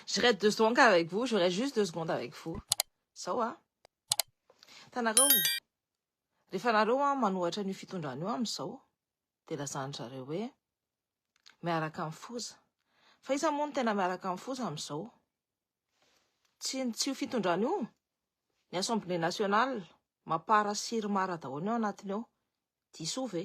Je reste deux secondes avec vous, je reste juste deux secondes avec vous. Zao a. Tanareo. Rehefa nareo a manohatra an'io fitondrana io amizao de lazany zareo hoe miaraka amin'ny foza. Fa iza moa no tena miaraka amin'ny foza amizao? Tsy tsy io fitondrana io. Ny Assemblée nationale mapara sy ry mara daholo ny ao anatiny ao. Diso ve?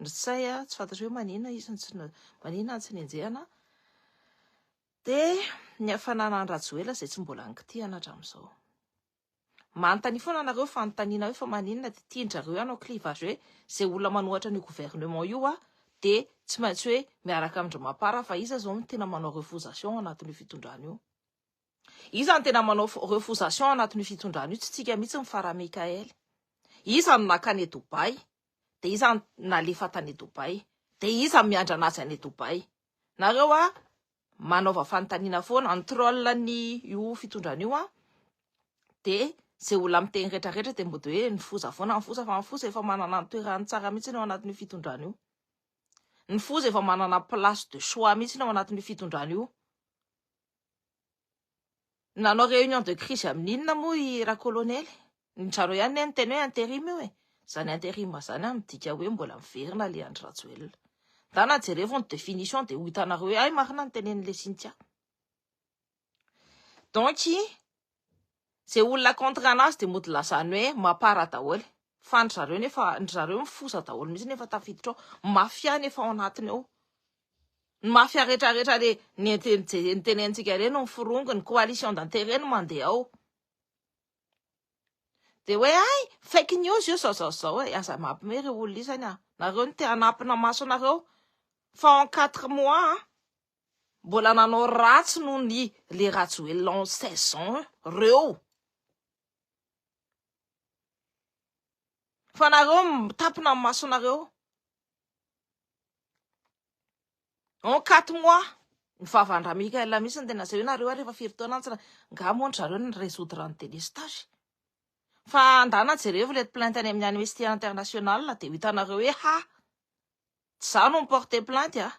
Nrtsay a, tsy fantatro hoe manina izy no tsy manina no tsy nenjehana dia ny hafanana an'i Rajoela izay tsy mbola nikitihana hatramin'izao. Manontania foana anareo fanontaniana hoe fa maninona dia tian-dry hanao clivage hoe izay olona manohatra an'io gouvernement io aho dia tsy maintsy hoe miaraka amin-dry mapar aho fa iza izao no tena manao refusation ao anatin'io fitondrana io. Iza no tena manao refousations anatin'io fitondrana io, tsy tsika mihitsy ny Farah Mickael. Iza no naka any Dubaï, dia iza no nalefa tany Dubaï, dia iza no miandrana azy any Dubaï. Nareo a, manaova fanontaniana foana, ny troll ny io fitondrana io a, dia ze olona miteny rehetra rehetra dia mody hoe ny foza foana, ny foza, fa ny foza efa manana ny toerany tsara mihitsy eo anatin'io fitondrana io. Ny foza efa manana place de choix mihitsy eo anatin'io fitondrana io. Nanao réunion de crise amin'inona moa i Rakolonely? Nizareo ihany ne niteny hoe interim io e. Zany interim zany an midika hoe mbola miverina le Andry Rajoelina. Ndana jerevo ny définition de ho hitanareo hoe hay marina ny tenen'le Cynthia. Donc Zay olona contre anazy dia mody lazany hoe mapara daholo fa ndry zareo nefa ndry zareo mifosa daholo mihitsy nefa tafiditra ao. Mafia ny efa ao anatiny ao. Ny mafia rehetra rehetra le nitenentsika ireny no miforongo ny coalition d'intérêt no mandeha ao. Dia hoe ay fake news io zao zao zao e, aza mampime reo olona isany a. Nareo no te hanampina maso anareo fa en quatre mois a. mbola nanao ratsy noho ny le rajoelina en seize ans reo fa nareo mitapina ny masonareo en quatre mois ny vavan-dra Mickael mihitsy no tena asehony nareo ary efa firy taona antsana nga moa ndry zareo ny résoudre ny délestage fa andana jerevo ilay plainte any amin'ny amnesty international dia ho hitanareo hoe ha tsy za no mi-porter plainte a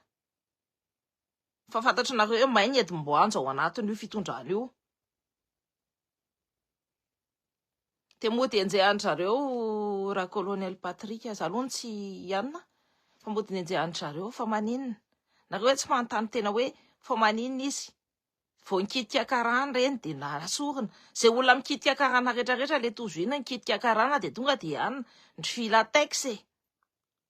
Fa fantatry nareo hoe may ny hedim-boanja ao anatin io fitondrana io. Dia mody enjehan-dry zareo ra colonel Patrick aza aloha no tsy hianina fa mody nenjehan-dry zareo fa maninona? Nareo hoe tsy manontany tena hoe fa maninona izy? Vao nikitika karana ireny dia nasorina. Izay olona mikitika karana rehetra rehetra le tojo iny nikitika karana dia tonga dia hianina ndry filatex e.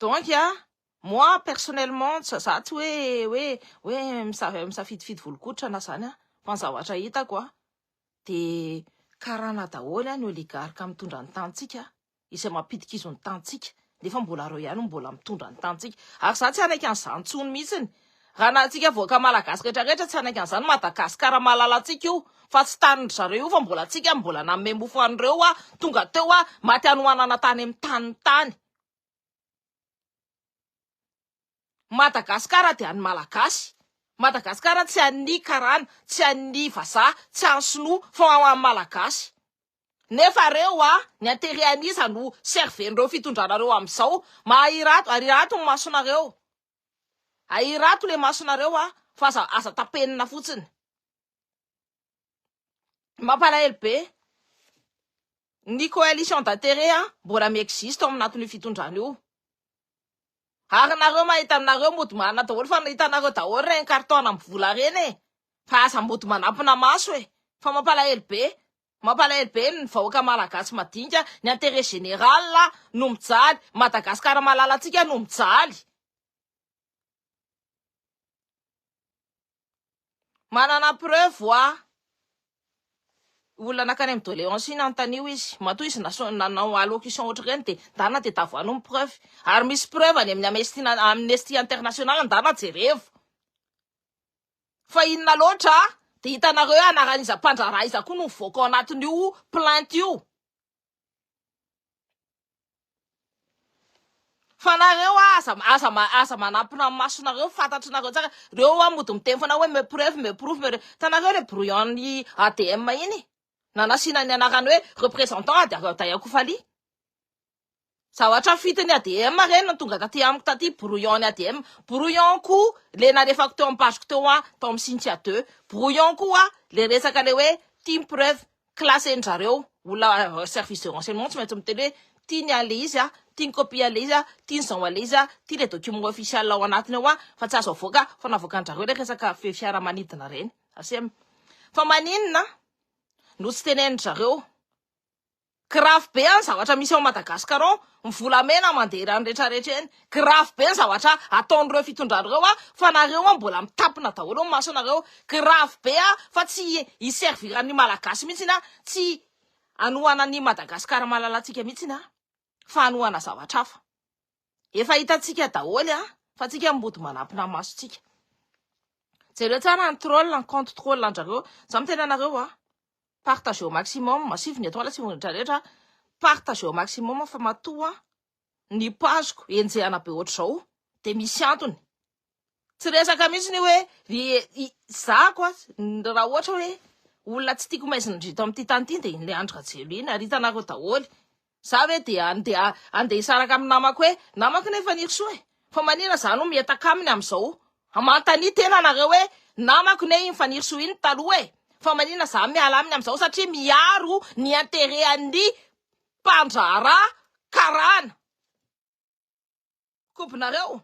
donc a moi personnellement za tsy hoe hoe hoe misafidifidy volokoditra na zany a fa ny zavatra hitako a de karana daholo a ny oligarque mitondra ny tantsika izay mampidi-kizo ny tantsika nefa mbola reo ihany no mbola mitondra ny tanintsika ary za tsy hanaiky an'izany tsony mihitsiny raha na antsika vahoaka malagasy rehetra rehetra tsy hanaiky an'izany Madagascar malalantsika io fa tsy tanin-dry zareo io fa mbola antsika no mbola nanome mofo an'ireo hoa tonga teo hoa maty hanohanana tany amin'ny taniny tany Madagascar dia an'ny malagasy, Madagascar tsy an'ny karana, tsy an'ny vazaha, tsy an'ny sinoa fa ho an'ny malagasy. Nefa reo a, ny interet an'iza no serven'ireo fitondranareo amizao, mahahirato, arirato ny masonareo, ahirato le masonareo a, fa aza, aza tapenina fotsiny. Mampalahelo be. Ny coalition d'intérêt mbola mi-existe ao anatin'io fitondrana io. Ary nareo mahita anareo mody marina daholo fa hitanareo daholo reny carton amin'ny vola reny e. Fa aza mody manampina maso e. Fa mampalahelo be. Mampalahelo be ny vahoaka malagasy madinika, ny intérêt général no mijaly, Madagascar malalantsika no mijaly. Manana preuve hoa olona nankany amin'ny doléance iny antanio izy matoa izy nanao allocution ohatr'ireny dia ndarina dia tavoano ny preuve ary misy preuve any amin'ny amnesty amnesty international ndarina jerevo fa inona loatra dia hitanareo hoe anaran'iza mpandraharaha iza koa no mivoaka ao anatin'io plainte io Fa nareo aza aza aza manampina ny masonareo fantatrinareo tsara reo hoa mody miteny fona hoe me preuve me prove me hitanareo le brouillon ny ADM iny nanasina ny anarany hoe représentant ady Radoa Kofaly Zavatra fito ny ADM re no tonga taty amiko taty, brouillon ny ADM, brouillon koa le nalefako teo ampasoko teo hoa tao am Cynthia deux, brouillon koa hoa le resaka le hoe tim preuve classen'ny zareo olona service de renseignement tsy maintsy miteny hoe ty ny anle izy a, ty ny copie anle izy a, ty ny zao anle izy a, ty le document officiel ao anatiny ao a, fa tsy azo avoaka fa navoakan'drareo le resaka fe fiaramanidina reny, asem fa maninona no tsy tenenin-dry zareo Grave be any zavatra misy ao Madagascar ao, ny volamena mandeha ireny rehetra rehetra ireny, grave be ny zavatra ataon'ireo fitondrana ireo an, fa nareo an mbola mitapina daholo ny masonareo, grave be an, fa tsy hi servir ny malagasy mihitsy an, tsy hanohana an'i Madagascar malalantsika mihitsy an, fa hanohana zavatra hafa. Efa hitantsika daholo a, fa antsika mody manapina masontsika. Jereo tsara ny troll, ny compte troll andrareo. Za mitena anareo a, partagez au maximum, sivy ny étoile, sivy ny rehetra rehetra. Partagez au maximum fa matoa ny page-ko enjehana be ohatr'izao dia misy antony. Tsy resaka mihitsy ny hoe ry zako a, raha ohatra hoe olona tsy tiako maizin-dry to amin'ity tany ity dia iny le Andry Rajoelina iny, ary hitanareo daholo. Za ve dia andeha andeha hisaraka amin'ny namako hoe namako nefa ny Irisoa e, fa maninona za no mihetaka aminy amin'izao? Manontania tena nareo hoe namako ne iny Fanirisoa iny taloha e, fa maninona za miala aminy amin'izao satria miaro ny intérêt an'ny mpandraharaha karana. Kobonareo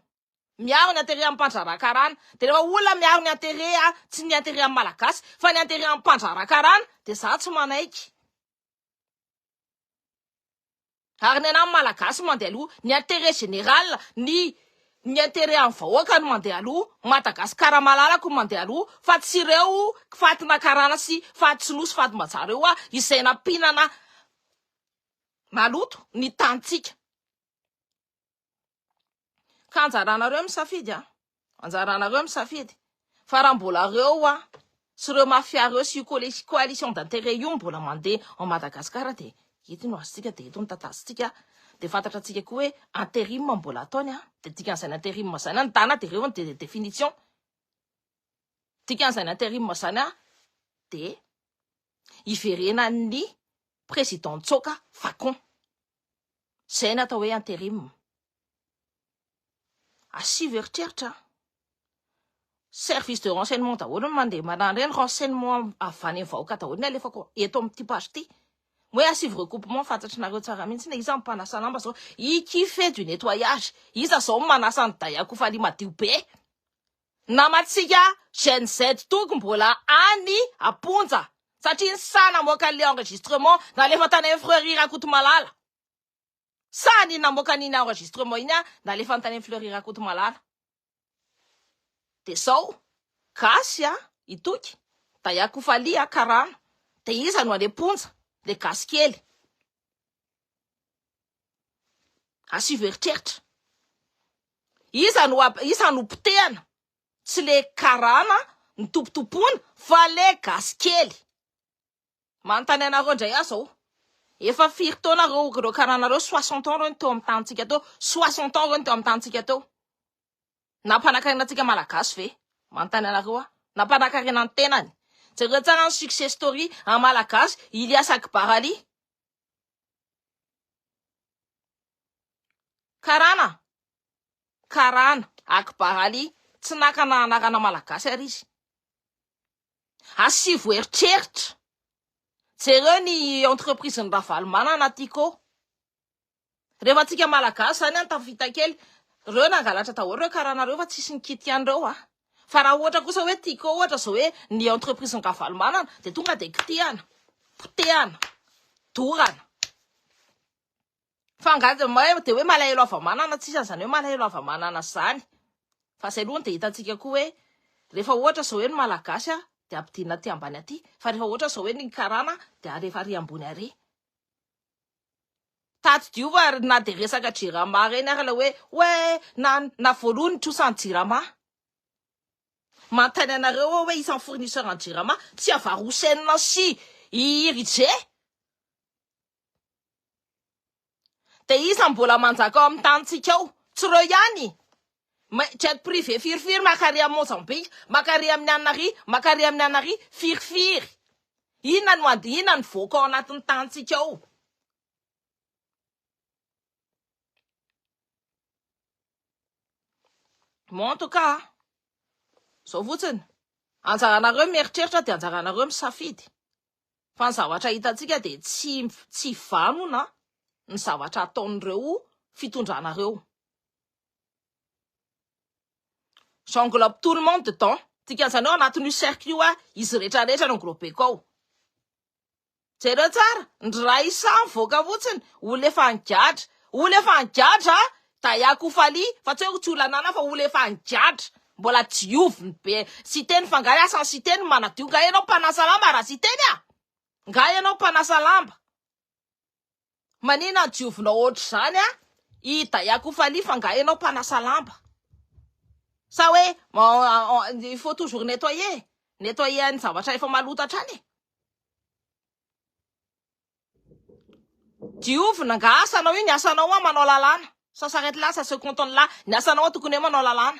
miaro ny interet am mpandrahara karana de refa olona miaro ny interet a tsy ny interet am malagasy fa ny interet am mpandrahara karana de za tsy manaiky ary ny anam malagasy mande aloha ny interet general ny ny interet am vahoaka no mande aloha madagasikara malalako no mande aloha fa tsy ireo fatina karana sy faty tsy nosy faty mbaja reo a izay nampinana maloto ny tany tsika Ka anjaranareo ny misafidy a, anjaranareo ny misafidy fa raha mbola reo a sy ireo mafia reo sy io coalition d'intérêt io mbola mandeha ao Madagascar dia eto no azontsika dia eto no tatazotsika dia fantatra tsika koa hoe interim mbola ataony a, dia dikan'izay ny interim zany a ny tana dia reo dia définition, dikan'izay ny interim zany a dia hiverenan'ny président tsoaka facon. Izay no atao hoe interim. Asivo eritreritra an! Service de renseignement daholo no mandeha marary ireny, renseignement avy any amin'ny vahoaka daholo no alefako eto amin'ity page ity. Moa hoe asivo recoupement fantatrinareo tsara mihitsy na iza no mpanasa lamba izao, i qui fait du nettoyage, iza izao no manasa an'i Dayakofali madio be? Namantsika Gen Z toko mbola any amponja satria ny saha namoaka an'ilay enregistrement nalefa tany amin'ny Fleury Rakotomalala. Saha an'iny namoaka an'iny enregistrement iny nalefany tany amin'ny Fleury Rakotomalala. Dia izao, gasy an, i Toky, Dayakofalia, Karana, dia iza no any amponja? Ilay gasy kely. Asivo eritreritra. Iza no iza no potehana? Tsy le karana nitopotopoina fa le gasy kely. Manontany anareo indray aho zao. Efa firy taona reo reo karana reo? Soixante ans reo no teo amin'ny tanintsika teo? Soixante ans reo no teo amin'ny tanintsika teo? Nampanankarena antsika malagasy ve? Manontany anareo aho. Nampanankarena ny tenany. Jereo tsara ny success story an'i malagasy Ilias Akbar Ali. Karana, Karana Akbar Ali, tsy nakana anarana malagasy ary izy. Asivo eritreritra, jereo ny entreprise-n'i Ravalomanana Tiko. Rehefa antsika malagasy izany an, tafita kely, reo nangalatra daholo reo karana reo fa tsisy nikity ihany reo an. Fa raha ohatra kosa hoe tiako ohatra izao hoe ny entreprise ny ravalomanana dia tonga dia kitihana, potehana, dorana. Fa angaha dia may dia hoe malahelo hava-manana, tsisy an'izany hoe malahelo hava-manana izany. Fa izay aloha no dia hitantsika koa hoe rehefa ohatra izao hoe ny malagasy an, dia ampidinina aty ambany aty, fa rehefa ohatra izao hoe ny karana dia alefa ary ambony ary. Tadidio ary na dia resaka jirama ireny ary ilay hoe hoe na na voalohany ny trosan'ny jirama. Manontany anareo aho hoe isan'ny fournisseur an'ny jirama tsy avarosenina sy i Irijé? Dia iza no mbola manjaka ao amin'ny tanintsika ao? Tsy ireo ihany. May, jet privé firifiry makary amin'i Mozambika, makary amin'i Anary, makary amin'i Anary, firifiry. Inona no ady, inona no voaka ao anatin'ny tanintsika ao? Bon en tout cas, zao fotsiny. Anjaranareo mieritreritra dia anjaranareo misafidy. Fa ny zavatra hitantsika dia tsy tsy vanona ny zavatra ataon'ireo fitondranareo. J'englobe tout le monde dedans. Dikan'izany hoe ao anatin'io cercle io aho, izy rehetra rehetra no englobeko ao. Jereo tsara, ndry ra isa mivoaka fotsiny, olona efa nigadra, olona efa nigadra a! Daya Koufaly, fa tsy hoe tsy olona ananana fa olona efa nigadra, mbola dioviny be, Siteny fa nga asan'i Siteny manadio, nga ianao mpanasa lamba ra-Siteny a! Nga ianao mpanasa lamba. Manina diovina ohatr'izany a! I Daya Koufaly fa nga enao mpanasa lamba? Sa hoe il faut toujours nettoyer, nettoyer any zavatra efa maloto hatrany e! Diovina nga asanao io, ny asanao hoa manao lalàna, ça s'arrête là, ça se cantonne là, ny asanao hoa tokony hoe manao lalàna.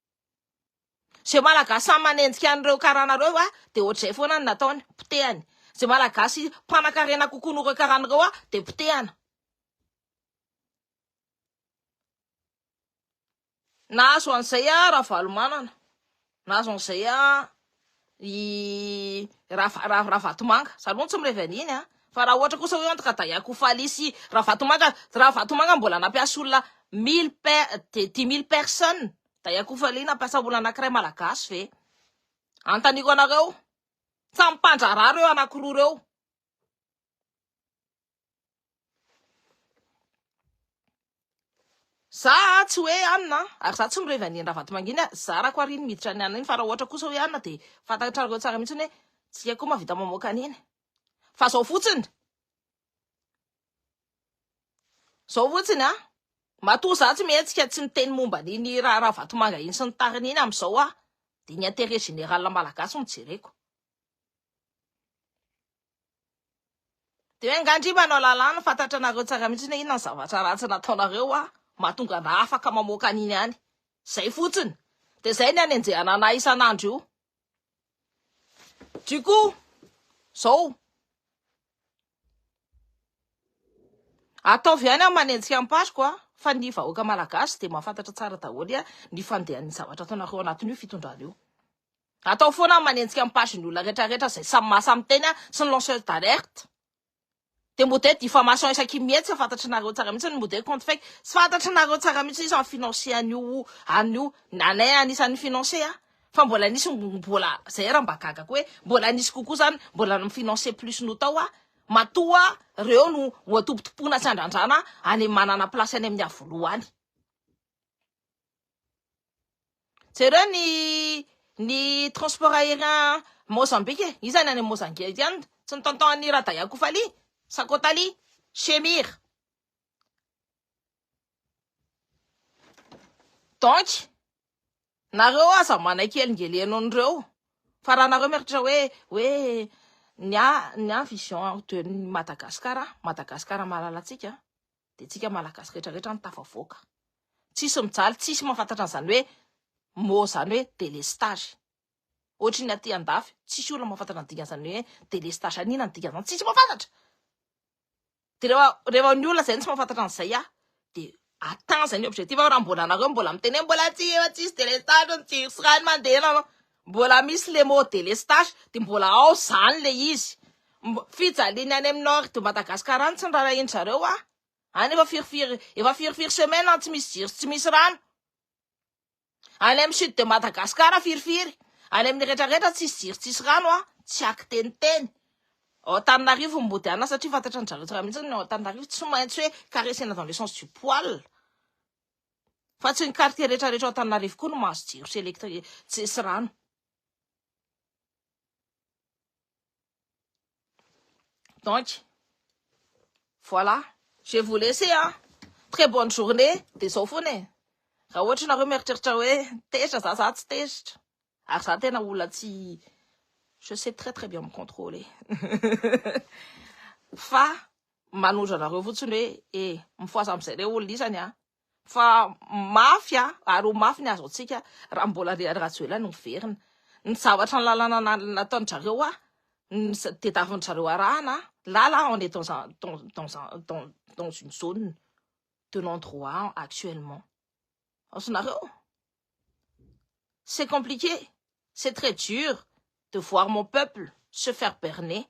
Izay Malagasy samy manenjika an'ireo karana ireo a, dia ohatr'izay foana ny nataony, potehany. Izay Malagasy mpanan-karena kokoa noho ireo karana ireo a, dia potehana. Nahazo an'izay a Ravalomanana, nahazo an'izay a i Ravatomanga, za aloha tsy mirevy an'iny an, fa raha ohatra kosa hoe entre Kadaia Kofali sy Ravatomanga, Ravatomanga mbola nampiasa olona mille per, dix mille personnes, Kadaia Kofali nampiasa olona anakiray malagasy ve? Anontaniko anareo, samy mpandraharaha reo anakiroa reo. Za tsy hoe anina ary za tsy mirevy an'i Ravatomanginy a, zarako ary iny miditra any anina iny fa raha ohatra kosa hoe anina dia fantatrareo tsara mihitsy hoe tsy haiko mahavita mamoaka an'iny fa zao fotsiny zao fotsiny a matoa za tsy mihetsika tsy miteny momba an'iny raha Ravatomanga iny sy ny tariny iny amin'izao aho dia ny intérêt général malagasy no jereko Dia angaha ndry manao lalàna, fantatranareo tsara mihitsy hoe inona ny zavatra ratsy nataonareo hoa mahatonga anà afaka mamoaka an'iny any. Izay fotsiny. Dia izay ny anenjehana anà isan'andro io. Du coup, izao, ataovy ihany an manenjika am-paroko an, fa ny vahoaka malagasy dia mahafantatra tsara daholo an ny fandehan'ny zavatra ataonareo anatin'io fitondrana io. Atao foana ny manenjika ny page ny olona rehetra rehetra zay samy maha samy teny a sy ny lanceurs d'alerte de mode diffamation isaky ny mihetsika tsy fantatry nareo tsara mihitsy ny mode compte fake tsy fantatry nareo tsara mihitsy izy ny financier an'io an'io anay anisan'ny financier a fa mbola nisy mbola zay raha mba gaga ko hoe mbola nisy kokoa zany mbola ny financier plus no tao a matoa reo no ho antompotompoina sy andrandrana any manana place any amin'ny avoloha any Jereo ny ny transport aérien Mozambique e, iza any any Mozambique any tsy ny tonton an'i Radaya Kofali, Sakotali, Shemir. Donc nareo aza manaiky elingeleno an'ireo fa raha nareo mieritreritra hoe hoe ny ahy ny ahy vision de Madagascar, Madagascar malalantsika. dia tsika malagasy rehetra rehetra no tafavoaka. Tsisy mijaly, tsisy mahafantatra an'izany hoe mot izany hoe délestage. Ohatry ny aty andafy, tsisy olona mahafantatra ny dikan'izany hoe délestage any inona ny dikan'izany, tsisy mahafantatra. Dia rehefa rehefa ny olona izay no tsy mahafantatra an'izay aho dia atteint izay ny objectif aho raha mbola anareo mbola miteny hoe mbola tsy tsisy délestage ny jiro sy rano mandeha. Mbola misy le mot delestage de mbola ao zany le izy fijaliany any am nord de Madagascar any tsy nirarahin zareo a any efa firy firy efa firy firy semaine any tsy misy jiro sy tsy misy rano any am sud de Madagascar firy firy any aminy rehetra rehetra tsisy jiro tsisy rano a tsy aky teny teny ao Antananarivo ny mody ana satria fantatran zareo tsara mihitsy ny ao Antananarivo tsy maintsy hoe karesena dans le sens du poil Fa tsy ny quartier rehetra rehetra ao Antananarivo koa no mahazo jiro sy électrique sy sy rano. Donc, voilà, je vous laisser an. Très bonne journée, dia zao foana e. Raha ohatra ianareo mieritreritra hoe tezitra za, za tsy tezitra. Ary za tena olona tsy je sais très très bien me contrôler. Fa Manojo anareo fotsiny hoe e, mifohaza amzay le olona isany a! Fa mafy a! Ary ho mafy ny azo antsika raha mbola ry Rajoelina no miverina. Ny zavatra ny lalana nataony drareo a! Ny tedaviny drareo arahana a! Là là on est dans un dans dans un dans dans une zone de non droit actuellement. Azonareo? C'est compliqué, c'est très dur de voir mon peuple se faire berner.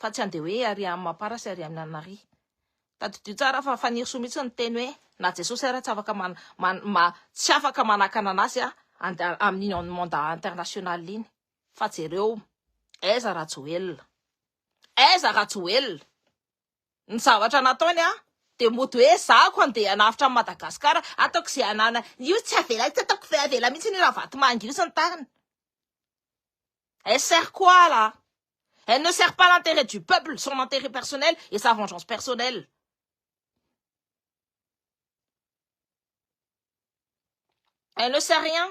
fa tsy andeha hoe ary am mapara sy ary amina nari tadidio tsara fa fanirisoa mihitsy ny teny hoe na jesosy ary tsy afaka man man ma tsy afaka manakana anazy a and amin on monda international iny fa jereo aiza rajoelina aiza rajoelina ny zavatra nataony a de mody hoe za ko andeha hanavotra an madagasikara ataoko izay anana io tsy avelako tsy ataoko avela mihitsy ny ravatomanga io sy ny tariny Elle sert quoi là? Elle ne sert pas l'intérêt du peuple, son intérêt personnel et sa vengeance personnelle. Elle ne sert rien.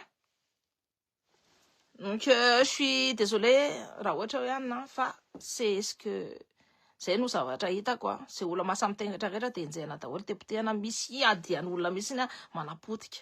Donc euh, je suis désolée raha ohatra hoe anina fa c'est ce que zay no zavatra hita quoi. Zay olona mahasahy mitengatra rehetra dia enjehina daholo dia potehana misy adian'olona mihitsy na manapotika.